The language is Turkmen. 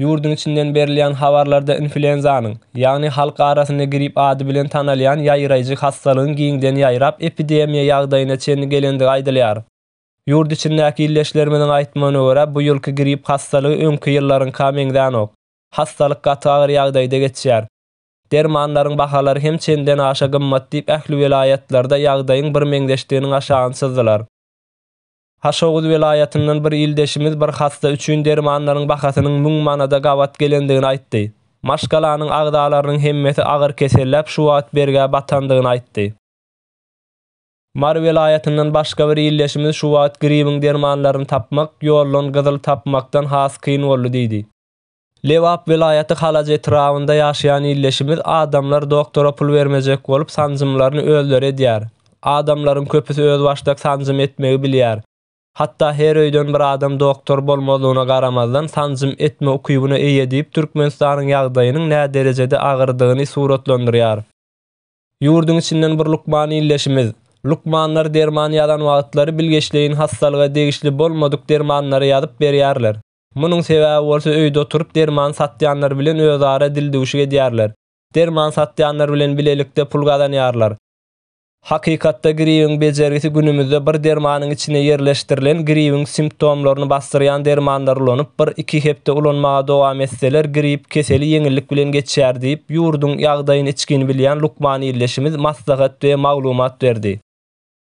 Ýurduň içinden berilýän habarlarda influenzanyň, ýagny halk arasynda grip ady bilen tanalýan ýaýraýjy hassalygyň giňden ýaýrap, epidemiýa ýagdaýyna çenli gelendigi aýdylýar. Ýurt içindäki ildeşlerimiziň aýtmagyna görä, bu ýylky grip hassalygy öňki ýyllaryňka meňzänok. Hassalyk gaty agyr ýagdaýda geçýär. Dermanlaryň bahalary hem çenden aşa gymmat diýip ähli welaýatlarda ýagdaýyň birmeňzeşdiginiň aşagyny çyzdylar. Haşoguz welaýatyndan bir ildeşimiz bir hassa üçin dermanlaryň bahasynyň müň manada gabat gelendigini aýtdy. Maşgalanyň agzalarynyň hemmesi agyr keselläp şu wagt bergä batandygyny aýtdy. Mary welaýatyndan başga bir ildeşimiz şu wagt gribiň dermanlaryny tapmak, ýollan gyzyl tapmakdan has kyn boldy diýdi. Lebap welaýaty Halac etrabynda ýaşaýan ildeşimiz adamlar doktora pul bermejek bolup sanjymlaryny özleri edýär. Adamlaryň köpüsi özbaşdak sanjym etmegi bilýär. Hatda her öýden bir adam doktor bolmazlygyna garamazdan sanjym etme ukybyna eýe diýip Türkmenistanyň ýagdaýynyň näderejede agyrdygyny suratlandyrýar. Ýurduň içinden bir lukman ildeşimiz, Lukmanlar derman ýazan wagtlary bilgeşleýin hassalyga degişli bolmadyk dermanlary ýazyp berýärler. Munuň sebäbi bolsa öýde oturyp derman satýanlar bilen özara dildüwşük edýärler. Derman satýanlar bilen bilelikde pul gazanýarlar. Hakykatda gribiň bejergisi günümizde bir dermanyň içine ýerleşdirilen gribiň simptomlaryny basdyrýan dermanlary ulanyp bir, iki hepde ulanmaga dowam etseler grip keseli ýeňillik bilen geçýär diýip ýurduň ýagdaýyny içgin bilýän lukman ildeşimiz maslahat we maglumat berdi.